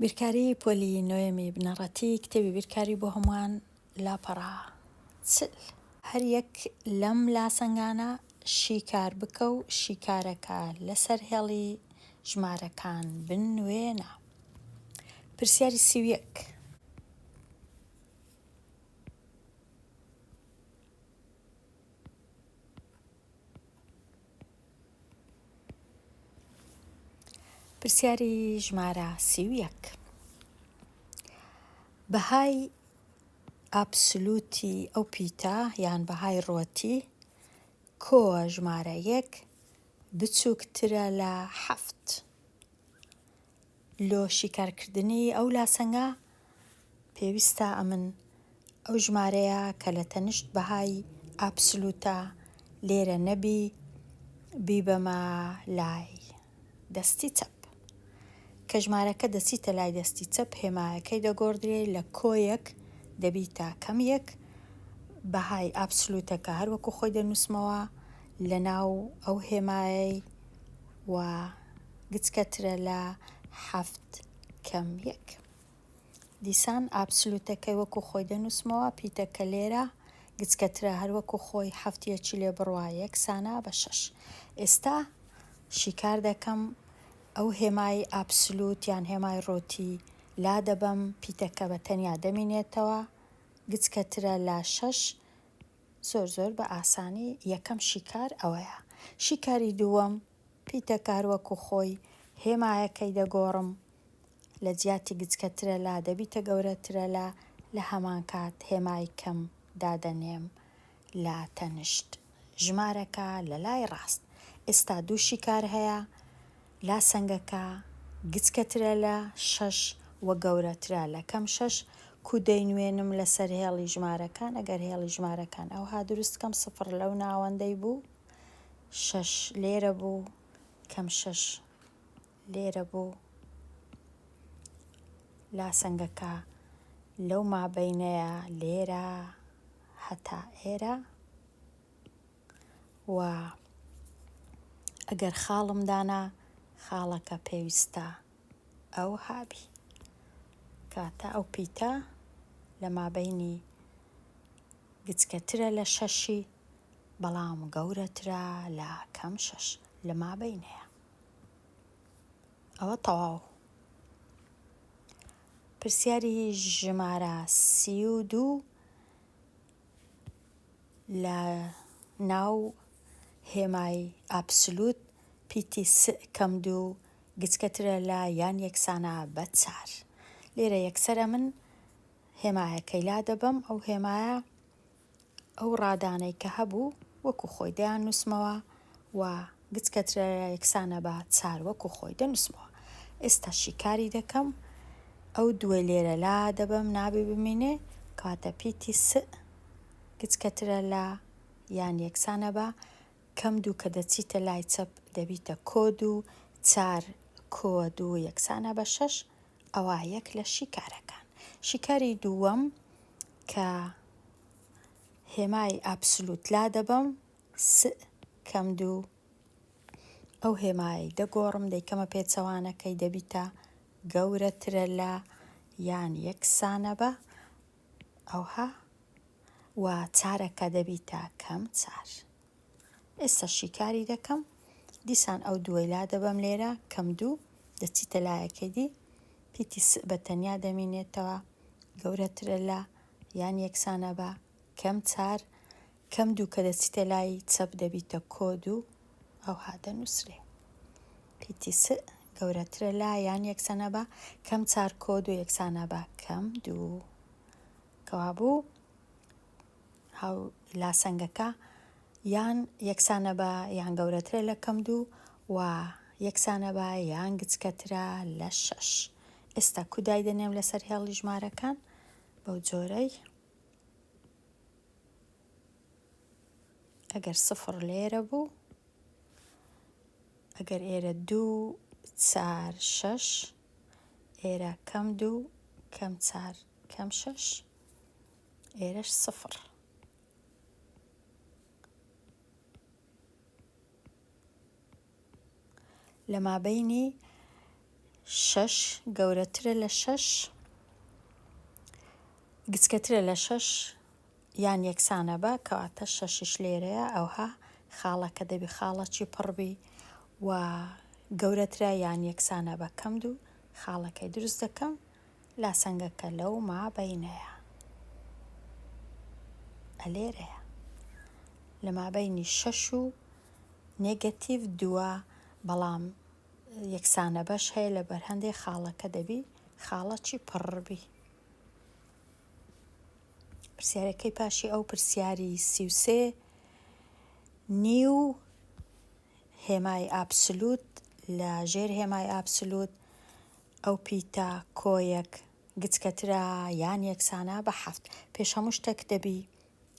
بیرکاری پۆلی نۆیەمی بنەڕەتی کتێبی بیرکاری بۆ هەمووان لاپەڕە چل. هەر یەک لەم لاسەنگانە شیکار بکە و شیکارەکە لەسەر هێڵی ژمارەکان بنوێنە. پرسیاری سی و یەک. پرسیاری ژمارە سی و یەک بەهای ئەبسولوتی ئەو پیتە یان بەهای ڕۆتی کۆ ژمارە یەک بچووکترە لە حەفت لۆ شیکار کردنی ئەو لاسەنگە پێویستە ئەمن ئەو ژمارەیە کە لە تەنشت بەهای ئابسلوتە لێرە نەبی بیبەمە لای دەستی چەپ. کە ژمارەکە دەچیتە لای دەستی چەپ هێمایەکەی دەگۆڕدرێ لە کۆیەک دەبیتە کەم یەک بەهای ئابسلوتەکە هەر وەکوو خۆی دەنووسمەوە لە ناو ئەو هێمایەی و گچکەترە لە حەفت کەم یەک. دیسان ئابسلوتەکەی وەکو خۆی دەنووسمەوە، پیتە کە لێرە گچکەترە هەر وەکو خۆی حەفت یەکی لێ بڕوا یەکسانە بە شەش. ئێستا شیکار دەکەم ئەو هێمای ئابسلوت یان هێمای ڕۆتی لادەبەم، پیتەکە بە تەنیا دەمینێتەوە، گچکەترە لە شەش، زۆر زۆر بە ئاسانی یەکەم شیکار ئەوەیە. شیکاری دووەم پیتەکار وەکو خۆی هێمایەکەی دەگۆڕم لە جیاتی گچکەترەلا دەبیتە گەورەترەلا لە هەمان کات هێمای کەم دادەنێم لە تەنشت ژمارەکە لە لای ڕاست ئێستا دوو شیکار هەیە لا سەنگەکە گچکەترە لە شەش وە گەورەترە لە کەم شەش کو دەینوێنم لەسەر هێڵی ژمارەکان ئەگەر هێڵی ژمارەکان ئەوها دروست کەم سفڕ لەو ناوەندەی بوو شەش لێرە بوو کەم شەش لێرە بوو لاسەنگەکە لەو مابەینەیە لێرە هەتا ئێرە و ئەگەر خاڵم دانا خاڵەکە پێویستە ئەو هابی کاتە ئەو پیتە لە مابینی گچکەترە لە شەشی بەڵام گەورەترە لە کەم شەش لە مابەینەیە ئەوە تەواو پرسیاری ژمارە سی و دوو لە ناو هێمای ئابسلوت پیتی کەم دوو گچکەترە لە یان یەکسانە بە چار لێرە یەکسرە من هێمایەکەی لا دەبم ئەو هێمایە ئەو ڕادانەی کە هەبوو وەکو خۆی دەیاننووسمەوە و گچ کە ترەرە یەکسانە بە چار وەکو خۆی دەنووسمەوە. ئێستا شیکاری دەکەم، ئەو دووەی لێرە لا دەبەم نابێ بمینێ، کەواتە پیتی سئ گچ کە ترەرە یان یەکسانە بە کەم دوو کە دەچیتە لای چەپ دەبیتە کۆ دوو، چار کۆ دوو یەکسانە بە شەش. ئەوە یەک لە شیکارەکان. شیکاری دووەم کە هێمای ئابسلوت لادەبەم س کەم دوو ئەو هێمای دەگۆڕم دەیکەمە پێچەوانەکەی دەبیتە گەورەترە لە یان یەکسانە بە ئەوها و چارەکە دەبیتە کەم چار. ئێستا شیکاری دەکەم دیسان ئەو دووەی لادەبەم لێرە کەم دوو دەچیتە لایەکەی دی پیتی س بە تەنیا دەمینێتەوە گەورەترە لە یان یەکسانە بە کەم چار کەم دوو کە دەچیتە لای چەپ دەبیتە کۆ دوو ئەو هادە نووسرێ پیتی س گەورەترە لە یان یەکسانە بە کەم چار کۆ دوو یەکسانە بە کەم دوو کەوابوو هاو لاسەنگەکە یان یەکسانە بە یان گەورەترە لە کەم دوو و یەکسانە بە یان گچکەترە لە شەش ئێستا کودای دەنێم لەسەر هێڵی ژمارەکان بەو جۆرەی ئەگەر سفر لێرە بوو ئەگەر ئێرە دوو چار شەش ئێرە کەم دوو کەم چار کەم شەش ئێرەش سفر. لە مابینی شەش گەورەترە لە شەش گچکەترە لە شەش یان یەکسانە بە کەواتە شەشش لێرەیە ئەوها خاڵەکە دەبی خاڵەکی پڕبی و گەورەترە یان یەکسانە بە کەم دوو خاڵەکەی دروست دەکەم لاسەنگە کە لەو ما بەینەیا ە لێرەیە لە مابەینی شەش و نێگەتیڤ دووە بەڵام یەکسانە بەش هەیە لە بەرهەندێ خاڵەکە دەبی خاڵەچی پڕبی پرسیارەکەی پاشی ئەو پرسیاری سیوسێ نیو هێمای ئابسلوت لە ژێر هێمای ئابسلوت ئەو پیتە، کۆیەک، گچکەترە یان یەکسانە بە حەفت. پێش هەموو شتەک دەبی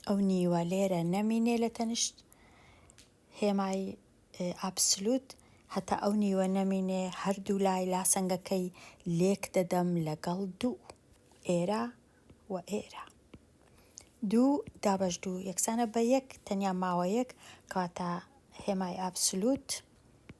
ئەو نیوە لێرە نەمینێ لە تەنشت هێمای ئابسلوت، هەتا ئەو نیوە نەمینێ هەردوو لای لاسەنگەکەی لێک دەدەم لەگەڵ دوو. ئێرە و ئێرە. دوو دابەش دوو یەکسانە بە یەک تەنیا ماوەیەک کەواتە هێمای ئابسلوت،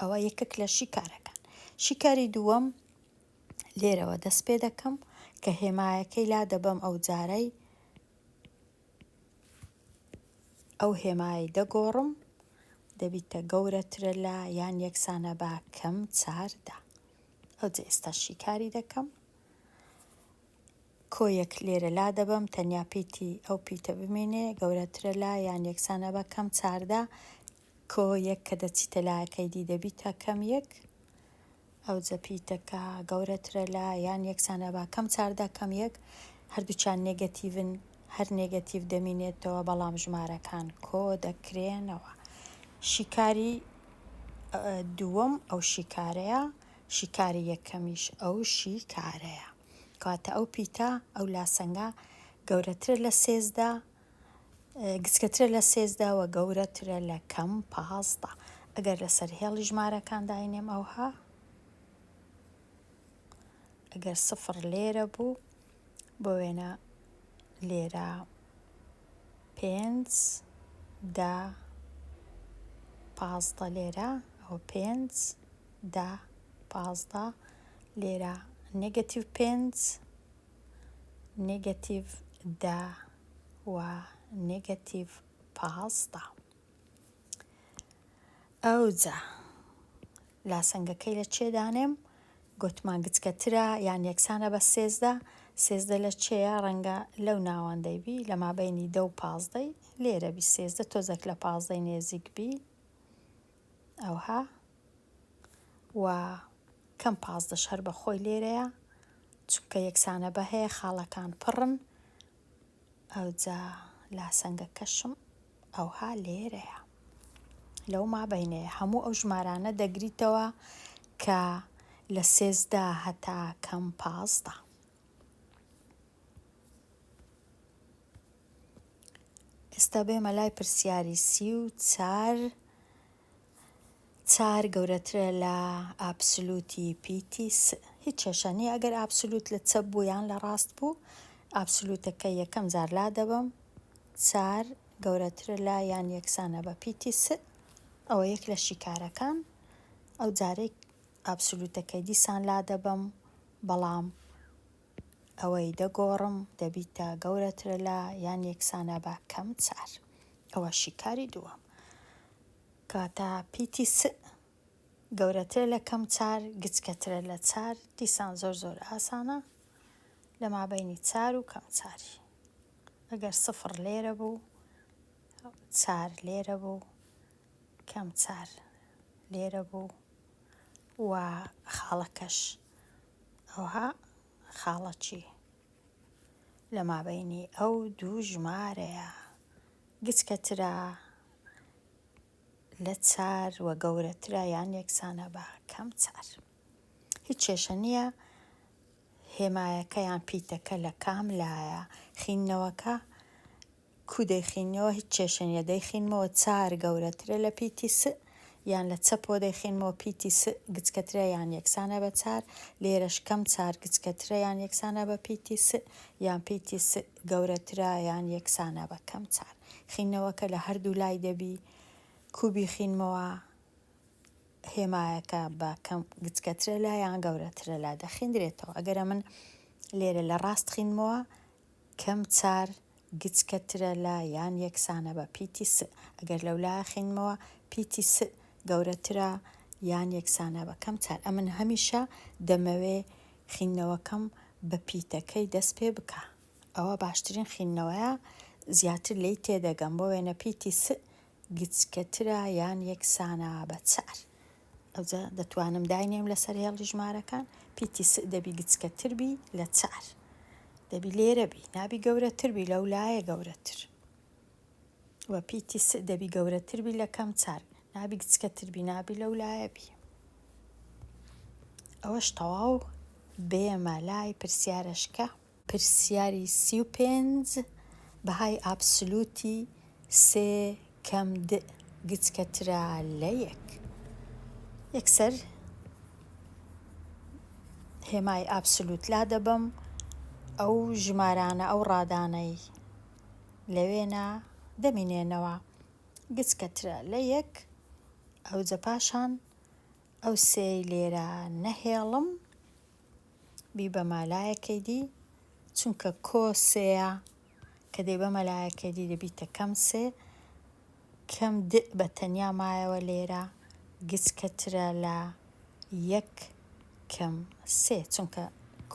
ئەوە یەکێک لە شیکارەکان شیکاری دووەم لێرەوە دەست پێ دەکەم کە هێمایەکەی لا دەبەم ئەو جارەی ئەو هێمایی دەگۆڕم دەبیتە گەورەترە لە یان یەکسانە بە کەم چاردا ئەو جە ئێستا شیکاری دەکەم کۆیەک لێرە لا دەبم تەنیا پیتی ئەو پیتە بمێنێ گەورەترە لا یان یەکسانە بە کەم چاردا کۆ یەک کە دەچیتە لایەکەی دی دەبیتە کەم یەک ئەوجە پیتەکە گەورەترە لە یان یەکسانە با کەم چاردا کەم یەک هەردووچان نێگەتیڤن هەر نێگەتیڤ دەمینێتەوە بەڵام ژمارەکان کۆ دەکرێنەوە شیکاری دووەم ئەو شیکارەیە شیکاری یەکەمیش ئەو شیکارەیە کاتە ئەو پیتە ئەو لاسەنگە گەورەترە لە سێزدە گچکەترە لە سێزدە وە گەورەترە لە کەم پازدە ئەگەر لەسەر هێڵی ژمارەکان داینێم ئەوها ئەگەر سفر لێرە بوو بۆ وێنە لێرە پێنج دا پازدە لێرە ئەوە پێنج دا پازدە لێرە نێگەتیو پێنج نێگەتیڤ دە و نێگەتیڤ پازدە. ئەوجا لاسەنگەکەی لە چێ دانێم گوتمان گچکەترە یان یەکسانە بە سێزدە سێزدە لە چێە ڕەنگە لەو ناوەندەی بی لە مابینی دە و پازدەی لێرە بی سێزدە تۆزەک لە پازدەی نێزیک بی ئەوها و کەم پازدەش هەر بە خۆی لێرەیە چونکە یەکسانە بە هەیە خاڵەکان پڕن ئەوجا لاسەنگە کەشم ئەوها لێرەیە لەو ما بینەیە هەموو ئەو ژمارانە دەگریتەوە کە لە سێزدا هەتا کەم پازدە ئێستا بێمە لای پرسیاری سی و چار چار گەورەترە لە ئابسلوتی پیتی س هیچ کێشە نییە ئەگەر ئابسلوت لە چەپ بوو یان لە ڕاست بوو ئابسلوتەکە یەکەم جار لادەبەم چار گەورەترە لە یان یەکسانە بە پیتی س ئەوە یەک لە شیکارەکان ئەو جارەی ئابسلوتەکەی دیسان لادەبەم بەڵام ئەوەی دە گۆڕم دەبیت تا گەورەترە لە یان یەکسانە بە کەم چار ئەوە شیکاری دووەم کاتە پیتی س گەورەترە لە کەم چار گچکەترە لە چار دیسان زۆر زۆر ئاسانە لە مابینی چار و کەم چاری ئەگەر سفر لێرە بوو چار لێرە بوو کەم چار لێرە بوو و خاڵەکەش ئەوها خاڵە چی لە مابەینی ئەو دوو ژمارەیە گچکەترە لە چار و گەورەترە یان یەکسانە بە کەم چار هیچ کێشە نییە هێمایەکە یان پیتەکە لە کام لایە خینەوەکە کو دەیخینیەوە هیچ کێشە نیە دەیخینمەوە چار گەورەترە لە پیتی س یان لە چەپەوە دەیخینمەوە پیتی س گچکەترە یان یەکسانە بە چار لێرەش کەم چار گچکەترە یان یەکسانە بە پیتی س یان پیتی س گەورەترە یان یەکسانە بە کەم چار خینەوەکە لە هەردوو لای دەبی کو بیخینمەوە هێمایەکە بە کەم گچکەترە لا یان گەورەترە لا دەخیندرێتەوە ئەگەرە من لێرە لە ڕاست خینمەوە کەم چار، گچکە ترە لە یان یەکسانە بە پیتی س، ئەگەر لەولا ئەخینمەوە، پیتی س گەورەترە یان یەکسانە بە کەم چار. ئەمن هەمیشە دەمەوێ خینەوەکەم بە پیتەکەی دەست پێ بکا. ئەوە باشترین خینەوەیە، زیاتر لێی تێدەگەم. بۆ وێنە پیتی س گچکە ترە یان یەکسانە بە چار. ئەوجا دەتوانم داینێم لەسەر هێڵی ژمارەکان پیتی س دەبی گچکە تر بی لە چار دەبی لێرە بی نابی گەورە تر بی لەو لایە گەورە تر و پیتی س دەبی گەورە تر بی لە کەم چار نابی گچکە تر بی نابی لەو لایە بی ئەوەش تەواو بێمە لای پرسیارەشکە پرسیاری سی و پێنج، بەهای ئابسلوتی سێ کەم د گچکەترە لە یەک؟ یەکسەر هێمای ئابسلوت لادەبەم، ئەو ژمارانە، ئەو ڕادانەی لەوێنە دەمینێنەوە گچکەترە لە یەک، ئەوجە پاشان ئەو سێی لێرە نەهێڵم. بیبەمە لایەکەی دی چونکە کۆ سێیە کە دەیبەمە لایەکەی دی دەبیتە کەم سێ کەم د بە تەنیا مایەوە لێرە گچکەترە لە یەک کەم سێ چونکە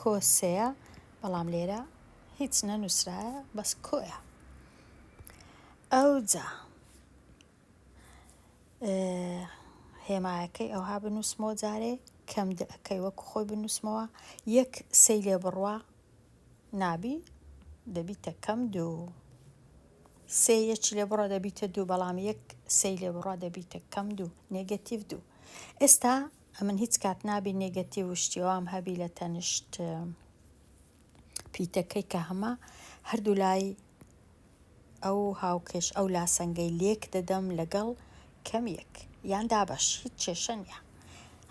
کۆ سێیە بەڵام لێرە هیچ نەنووسرایە بەس کۆیە ئەوجا هێمایەکەی ئەوها بنووسمەوە جارێ کەم دەکەی وەکو خۆی بنووسمەوە یەک سەی لێ بڕوا نابی دەبیتە کەم دوو سێ یەکی لێ بڕە دەبیتە دوو بەڵام یەک سەی لێ بڕا دەبیتە کەم دوو نێگەتیڤ دوو ئێستا ئەمن هیچ کات نابی نێگەتیڤ و شتیوام هەبی لە تەنیشت پیتەکەی کە هەمە هەردوو لای ئەو هاوکێش ئەو لاسەنگەی لێک دەدەم لەگەڵ کەم یەک یان دابەش هیچ کێشە نیە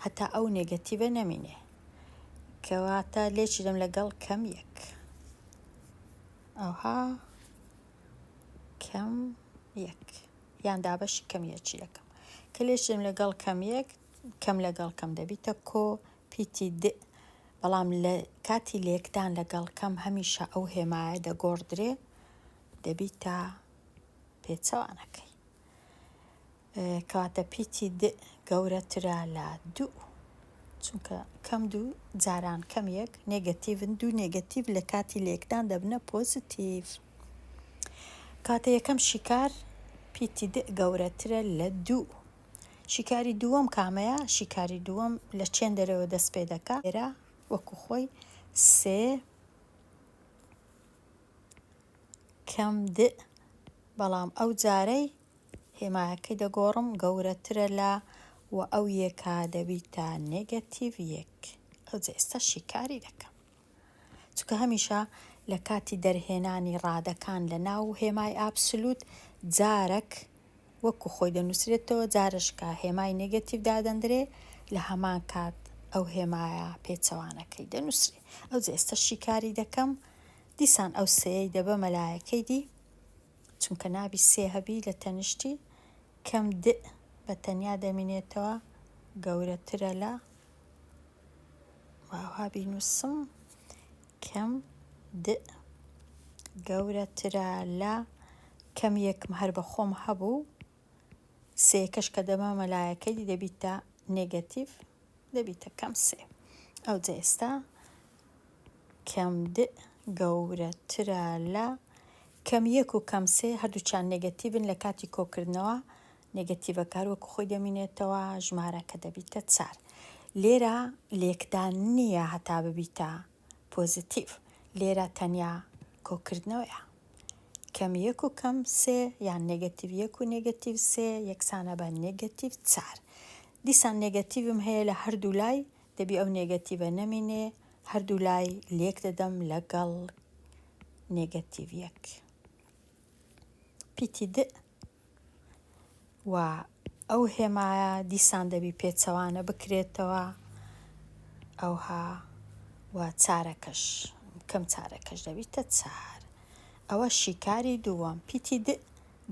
هەتا ئەو نێگەتیڤە نەمینێ کەواتە لێکی دەم لەگەڵ کەم یەک ئەوها کەم یەک یان دابەشی کەم یەکی دەکەم کە لێشم لەگەڵ کەم یەک کەم لەگەڵ کەم دەبیتە کۆ پیتی د بەڵام لە کاتی لێکدان لەگەڵ کەم هەمیشە ئەو هێمایە دەگۆڕدرێ دەبیتە پێچەوانەکەی. کەواتە پیتی د گەورەترە لە دوو چونکە کەم دوو جاران کەم یەک نێگەتیڤن دوو نێگەتیڤ لە کاتی لێکدان دەبنە پۆزیتیڤ. کاتە یەکەم شیکار پیتی د گەورەترە لە دوو شیکاری دووەم کامەیە؟ شیکاری دووەم لە چێن دەرەوە دەست پێ دەکا؟ ئێرە وەکو خۆی سێ کەم د بەڵام ئەو جارەی هێمایەکەی دەگۆڕم گەورەترە لە و ئەو یەکا دەبیتە نێگەتیڤ یەک ئەوجە ئێستا شیکاری دەکەم. چونکە هەمیشە لە کاتی دەرهێنانی ڕادەکان لە ناو هێمای ئابسلوت جارەک وەکو خۆی دەنووسرێتەوە جارش کە هێمای نێگەتیڤ دادەندرێ لە هەمان کات ئەو هێمایە پێچەوانەکەی دەنووسرێ ئەو جێستە شیکاری دەکەم دیسان ئەو سێەی دەبە مەلایەکەی دی چونکە نابی سێ هەبی لە تەنیشتی کەم د بە تەنیا دەمینێتەوە گەورەترە لە واوها بینوسم کەم د گەورە ترە لە کەم یەکم هەر بە خۆم هەبوو سێکەش کە دەمە مەلایەکەی دەبیتە نگەتیڤ دەبیتە کەم سێ ئەو جە ئێستا کەم د گەورە ترە لە کەم یەک و کەم سێ هەردووچان نگەتیڤن لە کاتی کۆکردنەوە نێگەتیڤە کار وەکو خۆی دەمینێتەوە ژمارە کە دەبیتە چار لێرە لێکدان نییە هەتا ببیتە پۆزیتیڤ لێرە تەنیا کۆکردنەوەیە کەم یەک و کەم سێ یان نێگەتیڤ یەک و نێگەتیڤ سێ یەکسانە بە نێگەتیڤ چار دیسان نێگەتیڤم هەیە لە هەردوو لای دەبی ئەو نێگەتیڤە نەمینێ هەردوو لای لێک دەدەم لەگەڵ نێگەتیڤ یەک پیتی دئ و ئەو هێمایە دیسان دەبی پێچەوانە بکرێتەوە ئەوها و چارەکەش کەم چارەکەش دەبیتە چار ئەوە شیکاری دووەم پیتی د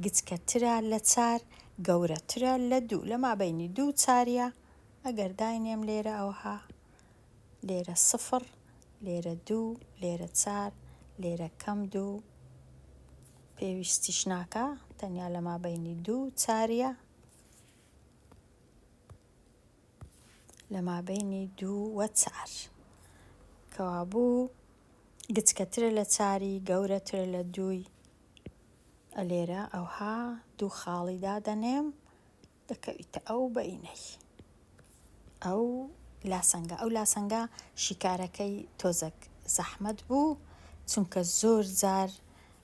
گچکەترە لە چار گەورەترە لە دوو لە مابەینی دوو چاریە ئەگەر داینێم لێرە ئەوها لێرە سفر لێرە دوو لێرە چار لێرە کەم دوو پێویستیش ناکا تەنیا لە مابەینی دوو چاریە لە مابەینی دوو وە چار کەوابوو گچکەترە لە چاری گەورەترە لە دووی ئەلێرە ئەوها دوو خاڵی دادەنێم دەکەویتە ئەو بەینەی ئەو لاسەنگە، ئەو لاسەنگە شیکارەکەی تۆزەک زەحمەت بوو، چونکە زۆر جار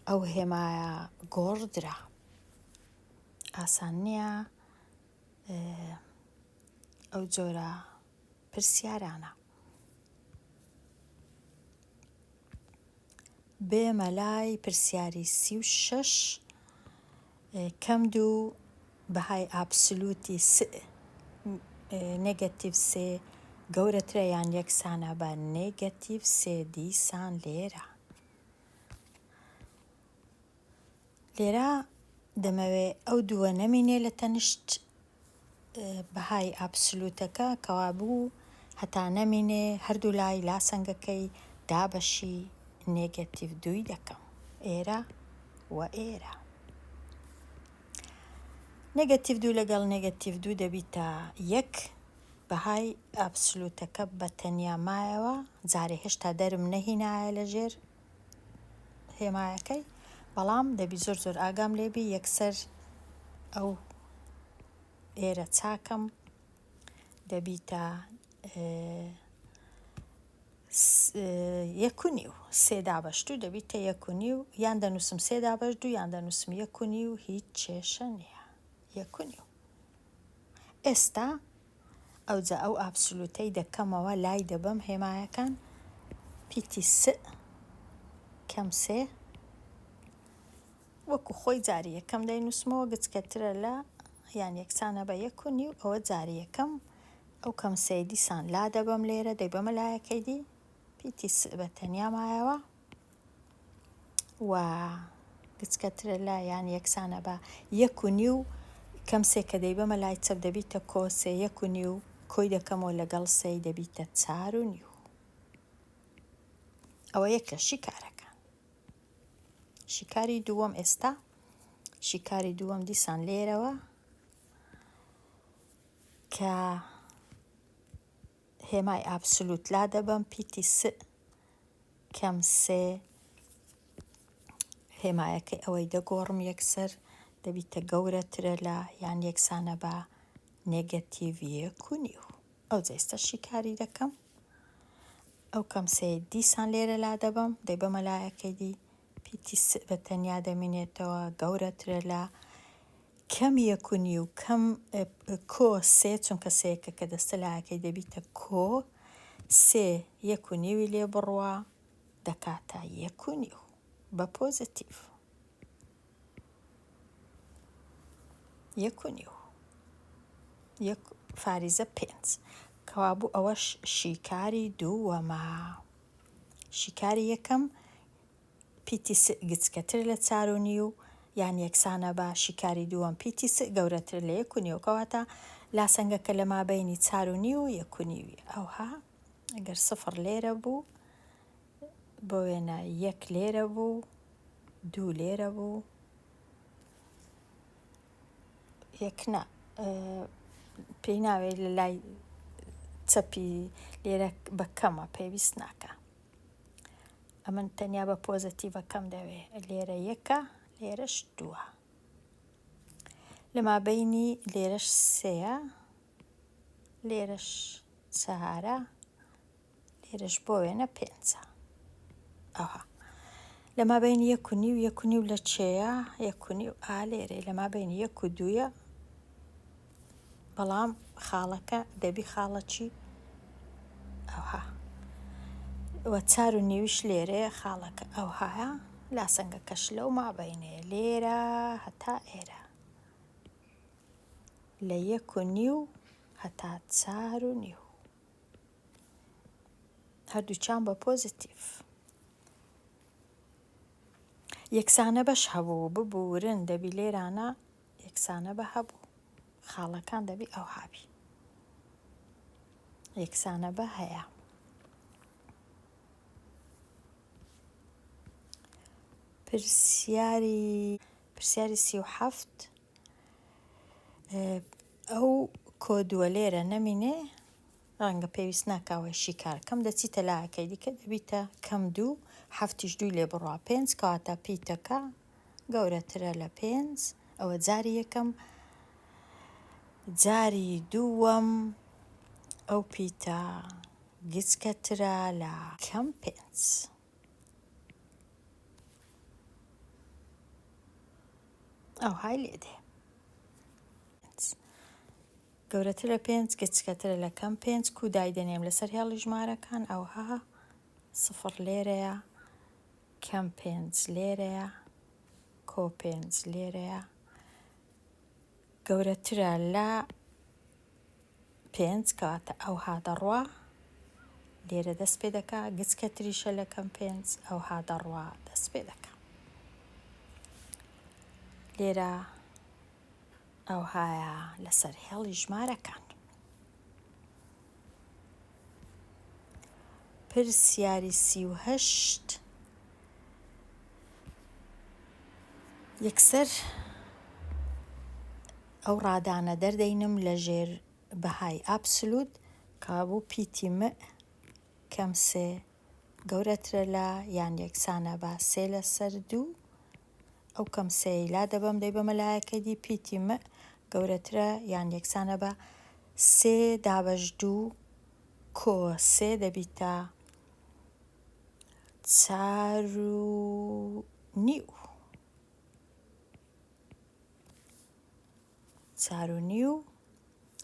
ئەو هێمایە گۆڕدرا، ئاسان نییە ئەو جۆرە پرسیارانە. بێمە لای پرسیاری سی و شەش کەم دوو بەهای ئابسلوتی س نێگەتیڤ سێ گەورەترە یان یەکسانە بە نێگەتیڤ سێ دیسان لێرە لێرە دەمەوێ ئەو دووە نەمینێ لە تەنشت بەهای ئابسلوتەکە کەوابوو هەتا نەمینێ هەردوو لای لاسەنگەکەی دابەشی نێگەتیڤ دووی دەکەم ئێرە و ئێرە نێگەتیڤ دوو لەگەڵ نێگەتیڤ دوو دەبیتە یەک بەهای ئابسلوتەکە بە تەنیا مایەوە جارێ هێشتا دەرم نەهینایە لەژێر هێمایەکەی بەڵام دەبی زۆر زۆر ئاگام لێبی یەکسەر ئەو ئێرە چاکەم دەبیتە یەکونی و سێدا بەشتو دەبیتە یەکونی و یان دەنووسم سێدا بەش دوو یان دەنووسم یەکونی و هیچ کێشە نییە یەکونی و ئێستا ئەوجا ئەو ئابسلوتەی دەکەمەوە لای دەبەم هێمایەکان پیتی سئ کەم سێ وەکو خۆی جاری یەکەم دەینوسمەوە گچکەترە لە یان یەکسانە بە یەک و نیو ئەوە جاری یەکەم ئەو کەم سێ دیسان لا دەبەم لێرە دەیبەمە لایەکەی دی پیتی سئ بە تەنیا مایەوە و گچکە ترێلا یان یەکسانە بە یەک و نیو کەم سێ کە دەیبەمە لای چەپ دەبیتە کۆ سێ یەک و نیو کۆی دەکەمەوە لەگەڵ سێی دەبیتە چار و نیو ئەوە یەک لە شیکارەکان شیکاری دووەم ئێستا شیکاری دووەم دیسان لێرەوە کە هێمای ئابسولوت لادەبەم پیتی س کەم سێ هێمایەکەی ئەوەی دەگۆڕم یەکسەر دەبیتە گەورەترە لە یان یەکسانە بە نێگەتیڤیە کونی و ئەو جێستە شیکاری دەکەم ئەو کەم سێ دیسان لێرە لا دەبم دەی بەمەلایەکەی دی پیتی س بە تەنیا دەمینێتەوە گەورەترە لە کەم یەک و نیو کەم کۆ سێ چونکە سەیەکە کە دەستە لاەکەی دەبیتە کۆ سێ یەک و نیوی لێ بڕوە دەکاتە یەک و نیو بە پۆزتیف یەک و نیو یەک فاریزە پێنج کەوابوو ئەوەش شیکاری دووەمە شیکاری یەکەم پیتی س گچکەتر لە چار و نیو یان یەکسانە بە شیکاری دووەم پیتی س گەورەتر لە یەک و نیو کەواتە لاسەنگەکە لە مابەینی چار و نیو و یەک و نیوی ئەوها گەر سفر لێرە بوو بۆ وێنە یەک لێرە بوو دوو لێرە بوو یەکنا پێی ناوێت لە لای چەپی لێرە بە کەمە پێویست ناکە ئەمن تەنیا بە پۆزەتیڤەکەم دەوێ لێرە یەکە لێرەش دووە لەمابینی لێرەش سێە لێرەش چهارە لێرەش بۆ وێنە پێنجە ئەوها لەما بین یەک و نیو یەک و نیو لە چێە یەک و نیو ئا لێرەی لەما بین یەک و دووە بەڵام خاڵەکە دەبی خاڵە چی ئەوها وە چار و نیویش لێرەیە خاڵەکە ئەوهایە لاسەنگەکەش لەو مابەینەیە لێرە هەتا ئێرە لە یەک و نیو هەتا چار و نیو هەردووچان بە پۆزیتیف یەکسانە بەش هەبوو ببورن دەبی لێرانە یەکسانە بە هەبوو. خاڵەکان دەبی ئەوها بی. یەکسانە بە هەیە. پرسیاری پرسیاری سی و حەفت ئەو کۆدووە لێرە نەمینێ ڕەنگە پێویست ناکاوەی شیکار کەم دەچی تەلاکەی دیکە دەبیتە کەم دوو هەفتیش دوو لێ بڕە پێنج کاتە پیتەکە گەورەترە لە پێنج ئەوە جاری یەکەم جاری دووەم ئەو پیتە گچکەترە لە کەم پێنج ئەو های لێ دێ گەورەتر لە پێنج گچکەترە لە کەم پێنج کو دایدەنێم لەسەر هێڵی ژمارەکان ئەوها سفر لێرەیە کەم پێنج لێرەیە کۆ پێنج لێرەیە گەورەترە لە پێنج کەواتە ئەو هادەڕوا لێرە دەست پێ دەکا گچکە تریشە لە کەم پێنج ئەو هادەڕوا دەست پێ دەکە لێرە ئەوهایە لەسەر هێڵی ژمارەکان پرسیاری سی و هەشت، یەکسەر ئەو ڕادانە دەردەینم لە ژێر بەهای ئابسلوت کە بوو پیتی مئ کەم سێ گەورەترە لە یان یەکسانە بە سێ لەسەر دوو ئەو کەم سێی لا دەبەم دەیبەمە لایەکە دی پیتی مئ گەورەترە یان یەکسانە بە سێ دابەش دوو کۆ سێ دەبیتە چار و نیو چار و نیو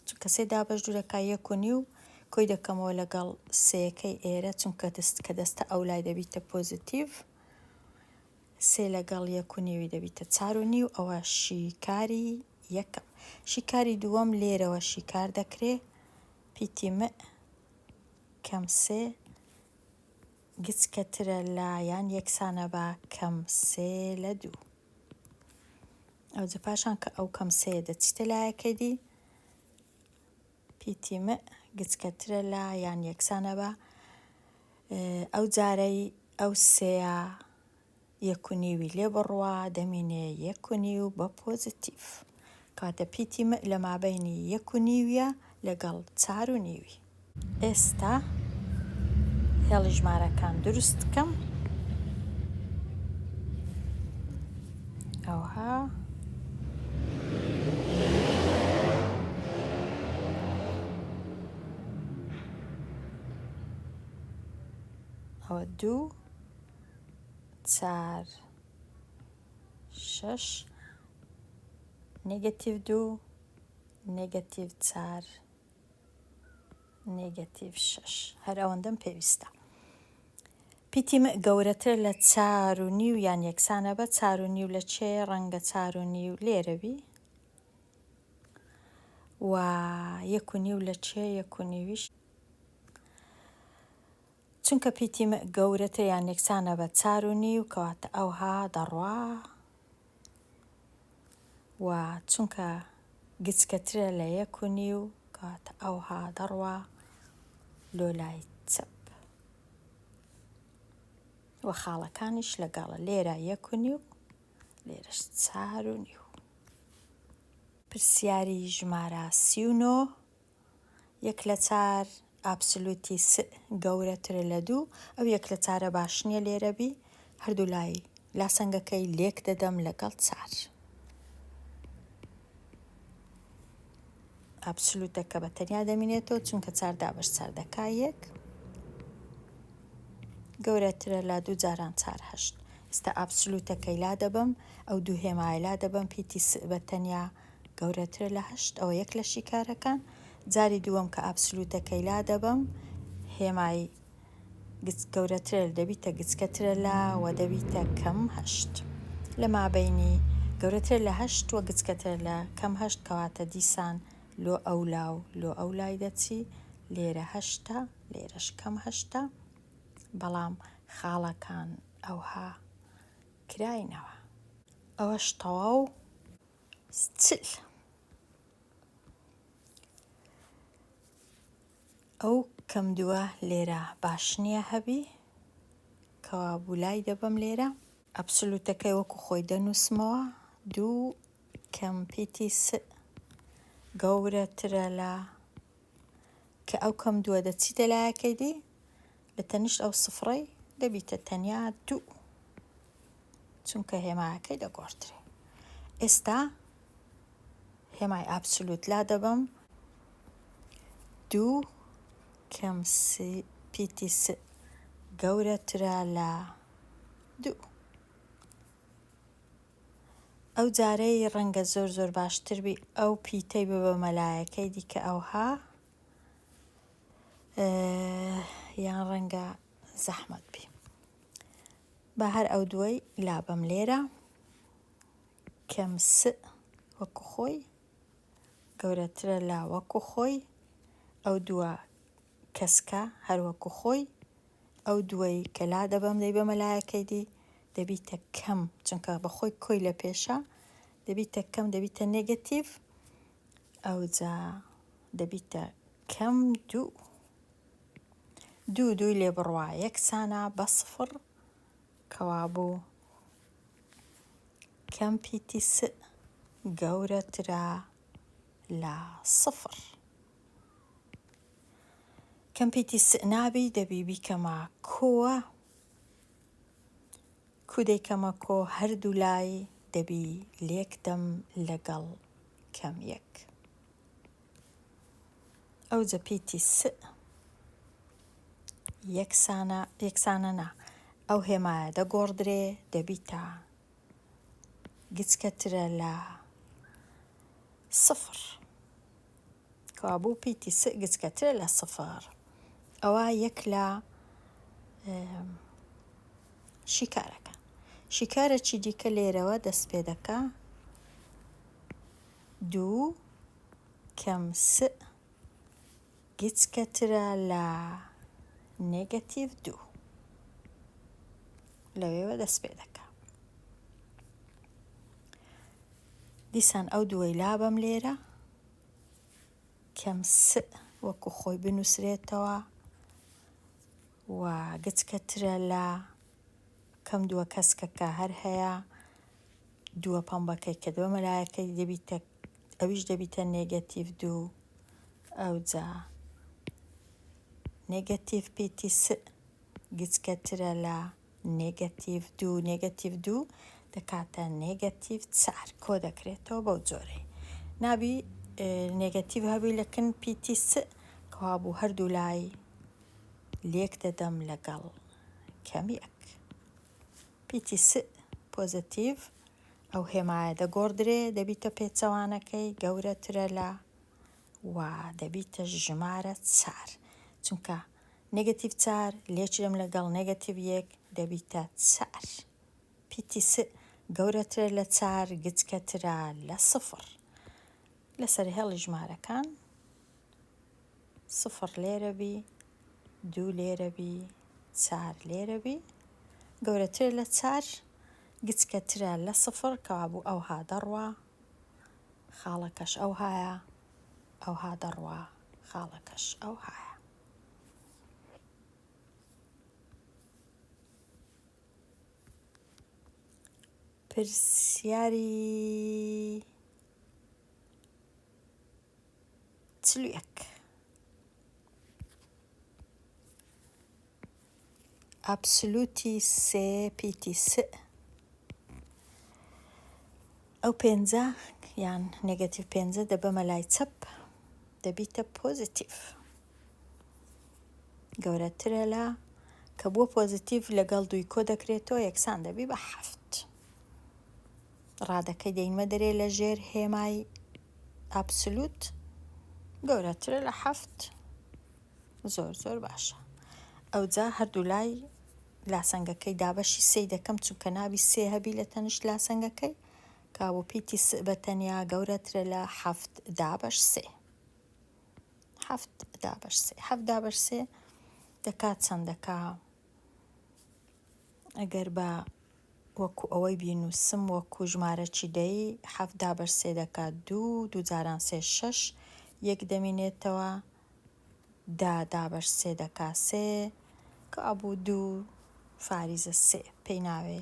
چونکە سێ دابەش دوو دەکا یەک و نیو کۆی دەکەمەوە لەگەڵ سێەکەی ئێرە چونکە دەست کە دەستە ئەو لای دەبیتە پۆزیتیڤ سێ لەگەڵ یەک و نیوی دەبیتە چار و نیو ئەوە شیکاری یەکەم شیکاری دووەم لێرەوە شیکار دەکرێ پیتی مئ کەم سێ گچکەترە لە یان یەکسانە بە کەم سێ لە دوو ئەوجە پاشان کە ئەو کەم سێ دەچیتە لایەکەی دی پیتی مئ گچکەترە لە یان یەکسانە بە ئەو جارەی ئەو سێیە یەک و نیوی لێ بڕوا دەمینێ یەک و نیو بە پۆزتیف کاتە پیتی مئ لە مابینی یەک و نیویە لەگەڵ چار و نیوی ئێستا هێڵی ژمارەکان دروست کەم ئەوها ئەوە دوو چار شەش نێگەتیڤ دوو نێگەتیڤ چار نێگەتیڤ شەش هەر ئەوەندەم پێویستە. پیتی م گەورەتر لە چار و نیو یان یەکسانە بە چار و نیو لە چێ ڕەنگە چار و نیو لێرەوی و یەک و نیو لە چێ یەک و نیویش چونکە پیتی م گەورەتر یان یەکسانە بە چار و نیو کەواتە ئەوها دەڕوا و چونکە گچکەترە لە یەک و نیو کات ئەوها دەڕوا لۆ لای چەپ و خاڵەکانیش لەگەڵە لێرە یەک و نیو لێرەش چار و نیو پرسیاری ژمارە سی و نۆ یەک لە چار ئابسلوتی سئ گەورەترە لە دوو ئەو یەک لە چارە باش نیە لێرە بی هەردوو لای لاسەنگەکەی لێک دەدەم لەگەڵ چار ئابسلوتەکە بە تەنیا دەمینێتەوە چونکە چار دابەش چار دەکا یەک گەورەترە لە دوو جاران چار هەشت ئستا ئابسلوتەکەی لا دەبەم ئەو دوو هێمایە لا دەبەم پیتی سئ بە تەنیا گەورەترە لە هەشت ئەوە یەک لە شیکارەکان جاری دووەم کە ئابسلوتەکەی لا دەبەم هێمای گچ گەورەترە دەبیتە گچکەترە لا و دەبیتە کەم هەشت لە مابینی گەورەتر لە هەشت وە گچکەتر لە کەم هەشت کەواتە دیسان لۆ ئەو لا و لۆ ئەو لای دەچی لێرە هەشتە لێرەش کەم هەشتە بەڵام خاڵەکان ئەوها کراینەوە ئەوەش تەواو ستیل ئەو کەم دووە لێرە باش نییە هەبی کەوابوو لای دەبم لێرە ئەبسلوتەکەی وەکو خۆی دەنووسمەوە دوو کەمپیتی س گەورەترە لە کە ئەو کەم دووە دەچیتە لایەکەی دی لە تەنیشت ئەو سفڕەی دەبیتە تەنیا دوو چونکە هێماکەی دەگۆڕدرێ ئێستا هێمای ئابسولوت لا دەبەم دوو کەم پیتی س گەورەترە لە دوو ئەو جارەی ڕەنگە زۆر زۆر باشتر بی ئەو پیتەی ببە مەلایەکەی دیکە ئەوها یان ڕەنگە زەحمەت بی بە هەر ئەو دوای لابەم لێرە کەم س وەکو خۆی گەورەترە لا وەکو خۆی ئەو دووە کەسکە هەر وەکو خۆی ئەو دوای کە لا دەبەم دەی بەمە لایەکەی دی دەبیتە کەم چونکە بەخۆی کۆی لە پێشە دەبیتە کەم دەبیتە نێگەتیڤ ئەوجا دەبیتە کەم دوو دوو دووی لێ بڕوا یەکسانە بە سفڕ کەوابوو کەم پیتی س گەورەترە لە سفڕ کەم پیتی س نابی دەبی بیکەمە کۆوە کو دەی کەمە کۆ هەردوولای دەبی لێک دەم لەگەڵ کەم یەک ئەوجە پیتی سئ یەکسانە یەکسانە نا ئەو هێمایە دەگۆڕدرێ دەبیتە گچکەترە لە سفر کەوابوو پیتی س گچکەترە لە سفر ئەوە یەک لە شیکارەکە شیکارەکی دیکە لێرەوە دەست پێ دەکا دوو کەم س گچکەترە لە نێگەتیڤ دوو. لەوێوە دەست پێ دەکا دیسان ئەو دووەی لابەم لێرە کەم س وەکو خۆی بنووسرێتەوە و گچکەترە لە کەم دووە کەسکەکە هەر هەیە دووە پەمبەکەی کە دووە مەلایەکەی دەبیتە ئەویش دەبیتە نێگەتیڤ دوو ئەوجا نێگەتیڤ پیتی س گچکەترە لە نێگەتیڤ دوو نێگەتیڤ دوو دەکاتە نێگەتیڤ چار کۆ دەکرێتەوە بەو جۆرەی نابی نێگەتیڤ هەبی لەکن پیتی س کەوابوو هەردوو لای لێک دەدەم لەگەڵ کەمیەک پیتی س پۆزەتیڤ ئەو هێمایە دەگۆڕدرێ دەبیتە پێچەوانەکەی گەورەترە لە و دەبیتە ژمارە چار چونکە نگەتیڤ چار لێچرم لەگەڵ نگەتیڤ یەک دەبیتە چار پیتی س گەورەترە لە چار گچکەترە لە سفر لەسەر هێڵی ژمارەکان سفر لێرە بی دوو لێرە بی چار لێرە بی گەورەتر لە چار گچکەترە لە سفر کەوابوو ئەوها دەڕوا خاڵەکەش ئەوهایە ئەوها دەڕوا خاڵەکەش ئەوهایە پرسیاری چل و یەک. ئابسولوتی سێ پیتی س ئەو پێنجە یان نێگەتیڤ پێنجە دەبەمە لای چەپ دەبیتە پۆزیتیڤ گەورەترە لە کە بووە پۆزیتیڤ لەگەڵ دووی کۆ دەکرێتەوە یەکسان دەبی بە حەفت ڕادەکەی دەینمە دەرێ لە ژێر هێمای ئابسلوت گەورەترە لە حەفت زۆر زۆر باشە ئەوجا هەردوو لای لاسەنگەکەی دابەشی سێ دەکەم چونکە نابی سێ هەبی لە تەنیشت لاسەنگەکەی کابوو پیتی بە تەنیا گەورەترە لە حەفت دابەش سێ حەفت دابەش سێ حەفت دابەش سێ دەکات چەند دەکا ئەگەر با وەکو ئەوەی بینووسم وەکو ژمارە چی دەی حەفدا بەر سێ دەکا دوو دوو جاران سێ شەش یەک دەمینێتەوە دا دا بەر سێ دەکا سێ کە ئەبوو دوو فاریزە سێ پێی ناوێ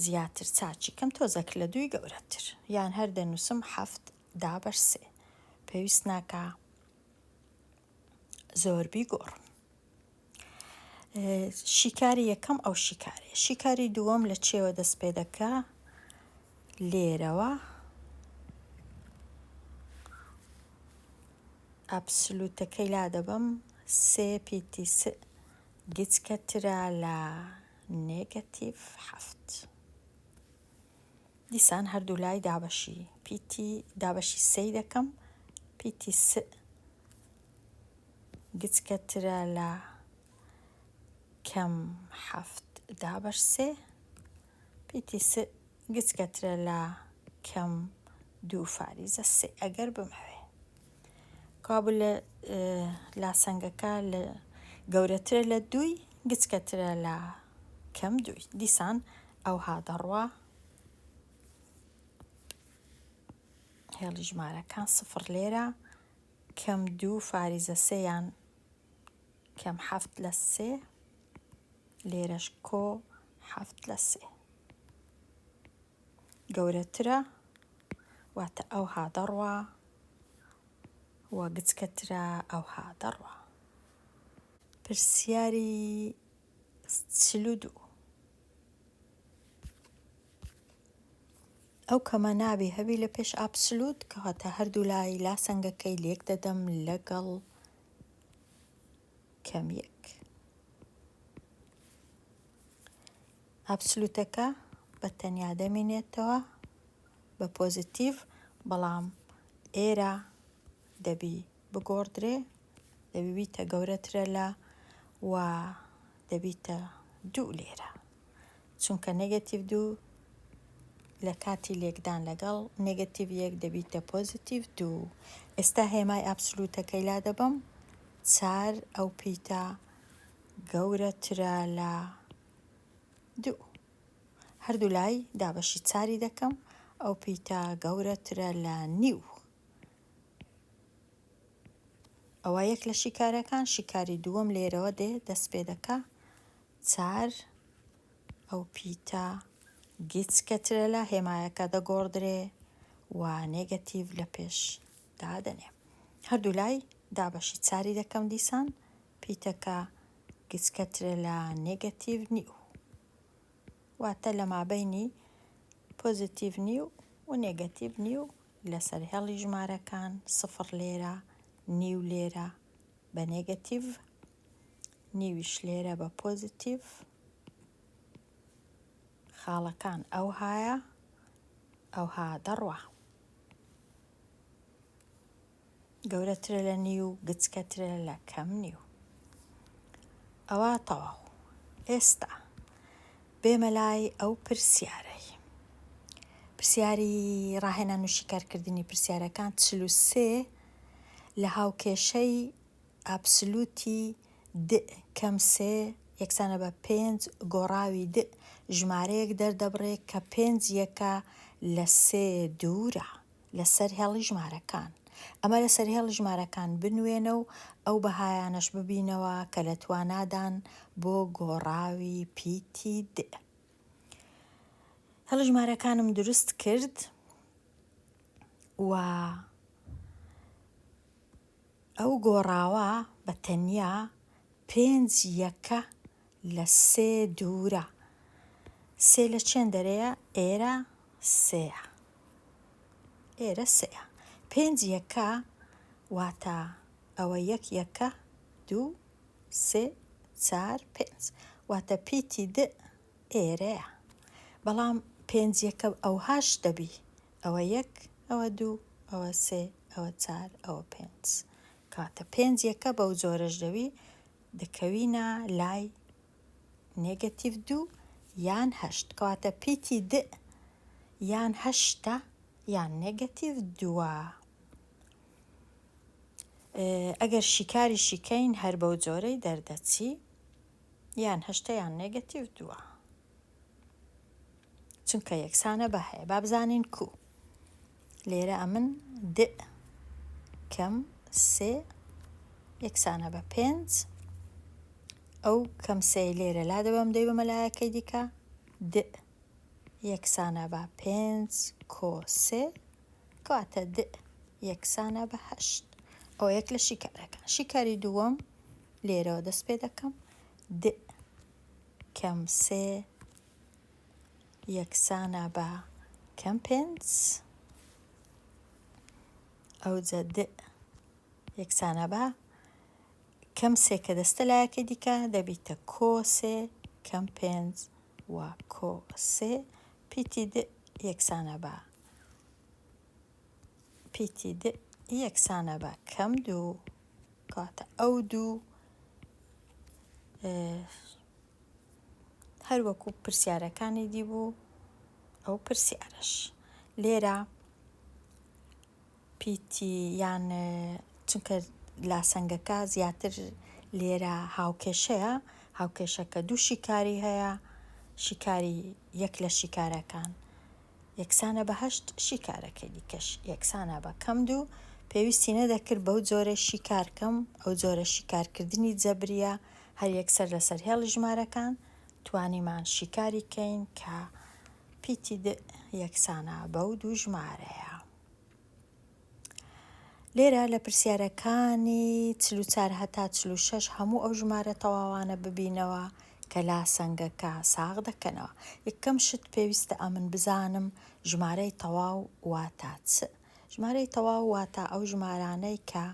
زیاتر چاچی کەم تۆزەک لە دووی گەورەتر یان هەر دەنووسم حەفت دا بەر سێ پێویست ناکا زۆربی گۆڕم شیکاری یەکەم ئەو شیکارێ شیکاری دووەم لە چێوە دەست پێ دەکا لێرەوە ئەپسلوتەکەی لا دەبم سێ پیتی گچکەترا لە نێگەتیڤ هەفت دیسان هەردوو لای دابەشی پیتی دابەشی سێ دەکەم پیتی سێ گچکەترە لە کەم حەفت دابەش سێ پیتی س گچکەترە لە کەم دوو فاریزە سێ ئەگەر بمەوێ کابل لە لاسەنگەکە لە گەورەترە لە دووی گچکەترە لە کەم دووی دیسان ئەوها دەڕوا هێڵی ژمارەکان سفر لێرە کەم دوو فاریزە سێ یان کەم حەفت لە سێ لێرەش کۆ حەفت لە سێ گەورەترە واتە ئەوها دەڕوا و گچکەترە ئەوها دەڕوا پرسیاری چلو دوو ئەو کەمە نابێ هەبی لە پێش ئابسلوت کەواتە هەردوو لای لا سەنگەکەی لێک دەدەم لەگەڵ کەمیەک ئابسلوتەکە بە تەنیا دەمینێتەوە بە پۆزیتیڤ بەڵام ئێرە دەبی بگۆڕدرێ دەبیبیتە گەورە ترە لە و دەبیتە دوو لێرە چونکە نگەتیڤ دوو لە کاتی لێکدان لەگەڵ نگەتیڤ یەک دەبیتە پۆزیتیڤ دوو ئێستا هێمای ئابسلوتەکەی لا دەبم چار ئەو پیتە گەورە ترە لە دوو هەردوو لای دابەشی چاری دەکەم ئەو پیتە گەورە ترە لە نیو ئەوا یەک لە شیکارەکان شیکاری دووەم لێرەوە دێ دەست پێ دەکا چار ئەو پیتە گیچ کەترە لە هێمایەکە دەگۆڕدرێ و نێگەتیڤ لە پێش دادەنێ هەردوو لای دابەشی چاری دەکەم دیسان پیتەکە گیچ کەترە لە نێگەتیڤ نیو واتە لە مابینی پۆزیتیڤ نیو و نێگەتیڤ نیو لەسەر هێڵی ژمارەکان سفڕ لێرە، نیو لێرە بە نێگەتیڤ، نیویش لێرە بە پۆزیتیڤ. خاڵەکان ئەوهایە ئەوها دەڕوا. گەورەترە لە نیو گچکەترە لە کەم نیو ئەوا تەواو ئێستا بێمە لای ئەو پرسیارەی پرسیاری ڕاهێنا نوشیکارکردنی پرسیارەکان چل و سێ لە هاوکێشەی ئابسلوتی د کەم سێ یەکسانە بە پێنج گۆڕاوی د ژمارەیەک دەردەبڕێ کە پێنج یەکە لە سێ دوورە لەسەر هێڵی ژمارەکان، ئەمە لەسەر هێڵی ژمارەکان بنوێنە و ئەو بەهایانەش ببینەوە کە لە توانادان بۆ گۆڕاوی پیتی د. هێڵی ژمارەکانم دروست کرد و ئەو گۆڕاوە بە تەنیا پێنج یەکە لە سێ دوورە. سێ لە چێن دەرێە ئێرە سێە. ئێرە سێە. پێنج یەکە واتە ئەوە یەک یەکە دوو سێ چار پێنج واتە پیتی د ئێرەیە بەڵام پێنج یەکە ئەوهاش دەبی ئەوە یەک ئەوە دوو ئەوە سێ ئەوە چار ئەوە پێنج کاتە پێنج یەکە بەو جۆرەش دەوی دەکەوینە لای نێگەتیڤ دوو یان هەشت کەواتە پیتی دئ یان هەشتە یان نێگەتیڤ دووە ئەگەر شیکاری شیکەین هەر بەو جۆرەی دەردەچی یان هەشتە یان نێگەتیڤ دووە چونکە یەکسانە بە هەیە با بزانین کو لێرە ئەمن د کەم سێ یەکسانە بە پێنج ئەو کەم سێ لێرە لا دەبم دەی بە مەلایەکەی دیکە د یەکسانە بە پێنج کۆ سێ کەواتە د یەکسانە بە هەشت ئەو یەک لە شیکارەکان شیکاری دووەم لێرەوە دەست پێ دەکەم د کەم سێ یەکسانە بە کەم پێنج ئەوجە د یەکسانە بە کەم سێ کە دەستە لایەکەی دیکە دەبیتە کۆ سێ کەم پێنج و کۆ سێ پیتی د یەکسانە بە پیتی د یەکسانە بە کەم دوو کاتە ئەو دوو هەروەکو پرسیارەکانی دی بوو ئەو پرسیارش لێرە پیتی یان چونکە لاسەنگەکە زیاتر لێرە هاوکێشەیە هاوکێشەکە دوو شیکاری هەیە شیکاری یەک لە شیکارەکان یەکسانە بە هەشت شیکارەکەی دیکەش یەکسانە بە کەم دوو، پێویستی نەدەکرد بەو جۆرە شیکار کەم، ئەو جۆرە شیکارکردنی جەبرییە، هەر یەکسەر لەسەر هێڵی ژمارەکان توانیمان شیکاری کەین کە پیتی د یەکسانە بەو دوو ژمارەیە. لێرە لە پرسیارەکانی چل و چار هەتا چل و شەش هەموو ئەو ژمارە تەواوانە ببینەوە کە لاسەنگەکە ساغ دەکەنەوە یەکەم شت پێویستە ئەمن بزانم ژمارەی تەواو واتا چ ژمارەی تەواو واتا ئەو ژمارانەی کە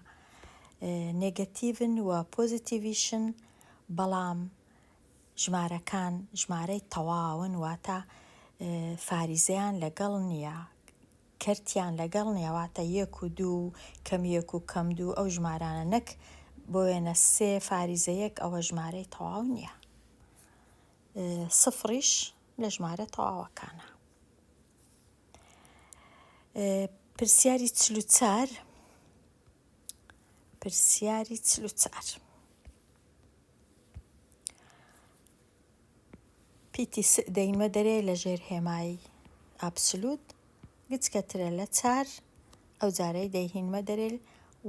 نێگەتیڤن و پۆزیتیڤیشن بەڵام ژمارەکان ژمارەی تەواون واتا فاریزەیان لەگەڵ نییە کەرتیان لەگەڵ نیە واتە یەک و دوو و کەم یەک و کەم دوو ئەو ژمارانە نەک بۆ وێنە سێ فاریزە یەک ئەوە ژمارەی تەواو نیە سفڕیش لە ژمارە تەواوەکانە پرسیاری چل و چار پرسیاری چل و چار پیتی سئ دەیمە دەرێ لە ژێر هێمای ئابسلوت گچکە ترە لە چار ئەو جارەی دەیهینمە دەرێل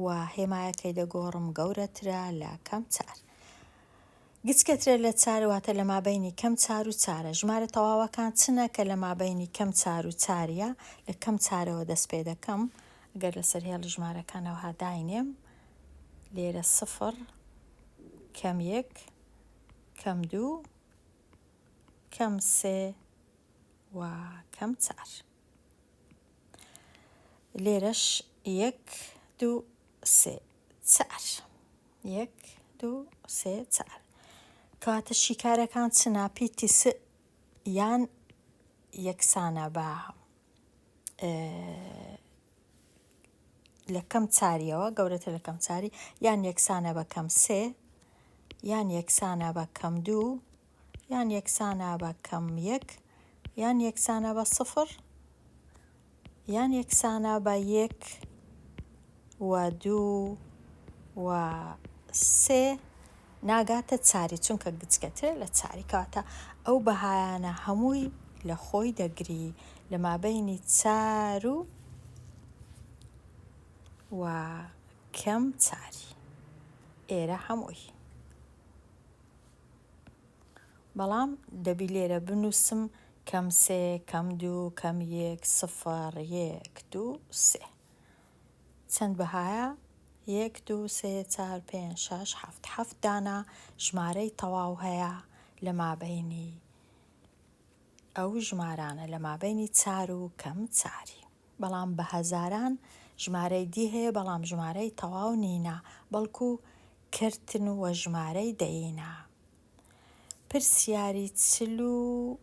و هێمایەکەی دەگۆڕم گەورە ترە لە کەم چار گچکە ترە لە چار واتە لە مابەینی کەم چار و چارە ژمارە تەواوەکان چنە کە لە مابەینی کەم چار و چاریە لە کەم چارەوە دەست پێ دەکەم گەر لە سەر هێڵی ژمارەکانەوە هاداینێم لێرە سفر کەم یەک کەم دوو کەم سێ و کەم چار لێرەش یەک دوو سێ چار یەک دوو سێ چار کەواتە شیکارەکان چ ناپیتی س یان یەکسانە بە لە کەم چاریەوە گەورەتر لە کەم چاری یان یەکسانە بە کەم سێ یان یەکسانە بە کەم دوو یان یەکسانە بە کەم یەک یان یەکسانە بە سفر یان یەکسانە بە یەک و دوو و سێ ناگاتە چاری چونکە گچکەترە لە چاری کەواتە ئەو بەهایانە هەمووی لە خۆی دەگری لە مابەینی چار و و کەم چاری ئێرە هەمووی بەڵام دەبی لێرە بنووسم کەم سێ کەم دوو کەم یەک سفر یەک دوو سێ چەند بەهایە؟ یەک دوو سێ چار پێنج شەش حەفت حەفت دانە ژمارەی تەواو هەیە لە مابەینی ئەو ژمارانە لە مابەینی چار و کەم چاری بەڵام بە هەزاران ژمارەی دی هەیە بەڵام ژمارەی تەواو نینە بەڵکو کرتن وە ژمارەی دەیینە پرسیاری چل و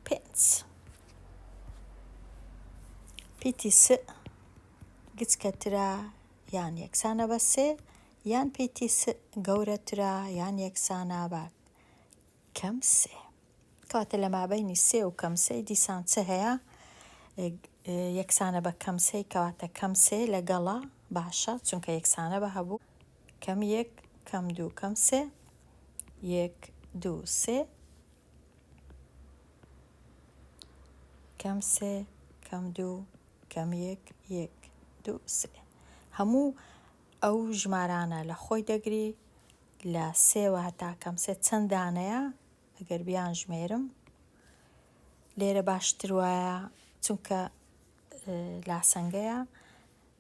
پێنج پیتی س گچکەترە یان یەکسانە بە سێ یان پیتی س گەورەترە یان یەکسانە بە کەم سێ کەواتە لە مابینی سێ و کەم سێ دیسان چ هەیە یەکسانە بە کەم سێ کەواتە کەم سێ لەگەڵە باشە چونکە یەکسانە بە هەبوو کەم یەک کەم دوو کەم سێ یەک دوو سێ کەم سێ کەم دوو کەم یەک یەک دوو سێ هەموو ئەو ژمارانە لە خۆی دەگری لە سێوە هەتا کەم سێ چەند دانەیە ئەگەر بیان ژمێرم لێرە باشتر وایە چونکە لاسەنگەیە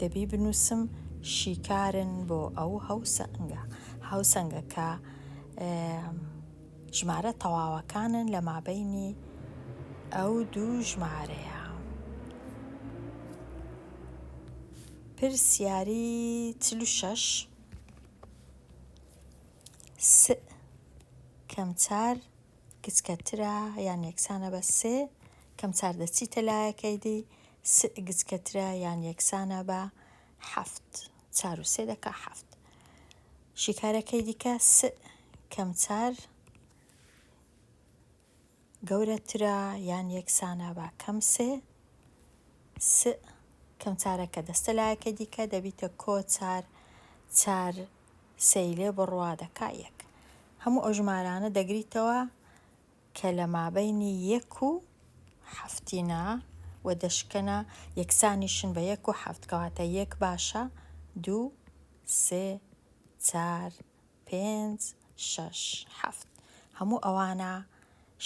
دەبی بنووسم شیکارن بۆ ئەو هاوسەنگە هاوسەنگە کە ژمارە تەواوەکانن لە مابینی ئەو دوو ژمارەیە پرسیاری چل و شەش س کەم چار گچکەترە یان یەکسانە بە سێ کەم چار دەچیتە لایەکەی دی سئ گچکەترە یان یەکسانە بە حەفت. چار و سێ دەکا حەفت. شیکارەکەی دیکە سئ کەم چار گەورەترە یان یەکسانە بە کەم سێ. سئ کەم چارەکە دەستە لایەکەی دیکە دەبیتە کۆ چار چار سێی لێ بڕوا دەکا یەک. هەموو ئەو ژمارانە دەگریتەوە کە لە مابەینی یەک و حەفتینا و دەشکەنا یەکسانیشن بە یەک و حەفت کەواتە یەک باشە دوو سێ چار پێنج شەش حەفت هەموو ئەوانە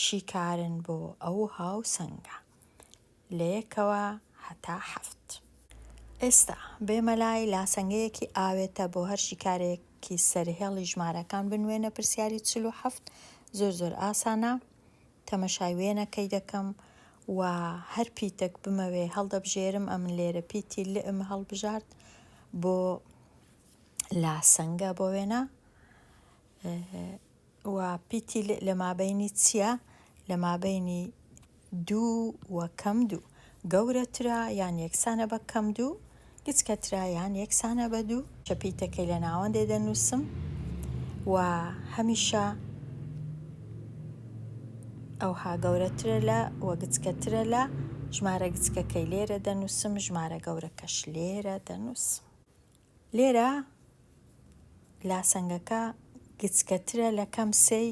شیکارن بۆ ئەو هاوسەنگە لە یەکەوە هەتا حەفت. ئێستا بێمە لای لاسەنگەیەکی ئاوێتە بۆ هەر شیکارێکی سەرهێڵی ژمارەکان بنوێنە پرسیاری چل و حەفت زۆر زۆر ئاسانە تەمەشای وێنەکەی دەکەم و هەر پیتەک بمەوێ هەڵدەبژێرم ئەمن لێرە پیتی لئ م هەڵبژارد بۆ لاسەنگە بۆ وێنە و پیتی ل لەمابەینی چیە لەمابەینی دوو و کەم دوو گەورەترە یان یەکسانە بە کەم دوو گچکەترە یان یەکسانە بە دوو چە پیتەکەی لە ناوەندێ دەنووسم و هەمیشە ئەوها گەورەترە لە و گچکەترە لە ژمارە گچکەکەی لێرە دەنووسم ژمارە گەورەکەش لێرە دەنووسم لێرە لاسەنگەکە گچکەترە لە کەم سێی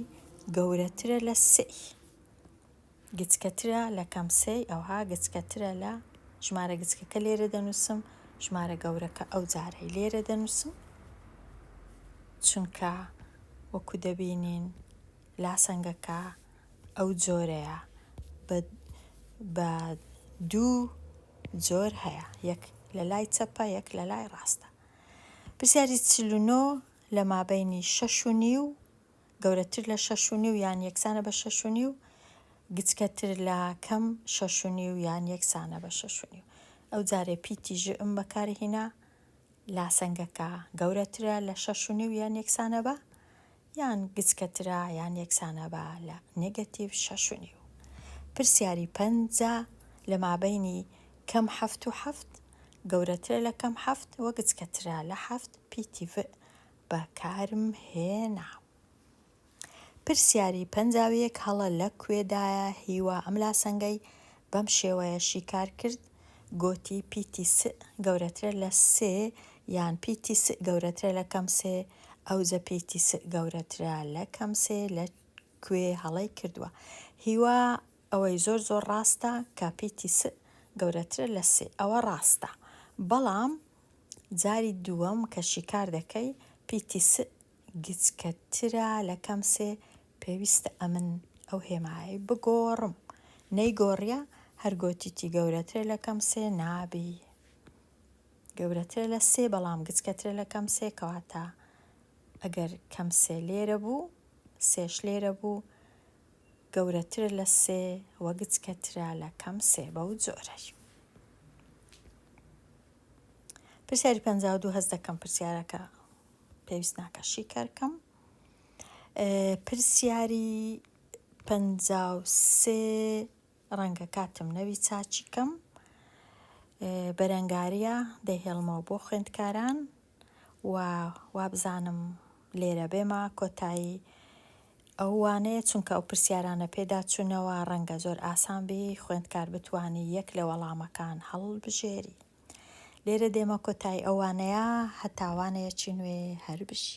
گەورەترە لە سێی گچکەترە لە کەم سێی ئەوها گچکەترە لە ژمارە گچکەکە لێرە دەنووسم ژمارە گەورەکە ئەو جارەی لێرە دەنووسم چونکە وەکو دەبینین لاسەنگەکە ئەو جۆرەیە بە بە دوو جۆر هەیە یەک لە لای چەپە یەک لە لای ڕاستە پرسیاری چل و نۆ لە مابینی شەش و نیو گەورەتر لە شەش و نیو یان یەکسانە بە شەش و نیو گچکەتر لە کەم شەش و نیو یان یەکسانە بە شەش و نیو ئەو جارێ پیتی ژئم بەکارهینا لاسەنگەکە گەورەترە لە شەش و نیو یان یەکسانە بە یان گچکەترە یان یەکسانە بە لە نێگەتیڤ شەش و نیو. پرسیاری پەنجا، لە مابەینی کەم حەفت و حەفت، گەورەترە لە کەم حەفت و گچکەترە لە حەفت، پیتی ڤ بەکارمهێنا. پرسیاری پەنجا و یەک هەڵە لە کوێدایە هیوا ئەم لاسەنگەی بەم شێوەیە شیکار کرد گۆتی پیتی سئ گەورەترە لە سێ یان پیتی سئ گەورەترە لە کەم سێ ئەوجە پیتی سئ گەورەترە لە کەم سێ لە کوێ هەڵەی کردوە هیوا ئەوەی زۆر زۆر ڕاستە کە پیتی سئ گەورەترە لە سێ ئەوە ڕاستە بەڵام جاری دووەم کە شیکار دەکەی پیتی سئ گچکە ترە لە کەم سێ پێویستە ئەمن ئەو هێمایەی بگۆڕم نەیگۆڕیە هەر گۆتیتی گەورەترە لە کەم سێ نابی گەورەترە لە سێ بەڵام گچکە ترە لە کەم سێ کەواتە ئەگەر کەم سێ لێرە بوو سێش لێرە بوو گەورەترە لە سێ وە گچکە ترە لە کەم سێ بەو جۆرەش پرسیاری پەنجا و دوو هەست دەکەم پرسیارەکە پێویست ناکە شیکار کەم پرسیاری پەنجا و سێ ڕەنگە کاتم نەوی چاچی کەم بەرەنگاریە دەهێڵمەوە بۆ خوێندکاران و وابزانم لێرە بێمە کۆتایی ئەوانەیە چونکە ئەو پرسیارانە پێدا چوونەوە ڕەنگە زۆر ئاسان بی خوێندکار بتانی یەک لە وەڵامەکان هەڵبژێری لێرە دێمە کۆتای ئەوانەیە هەتاوانەیەکی نوێ هەر بژی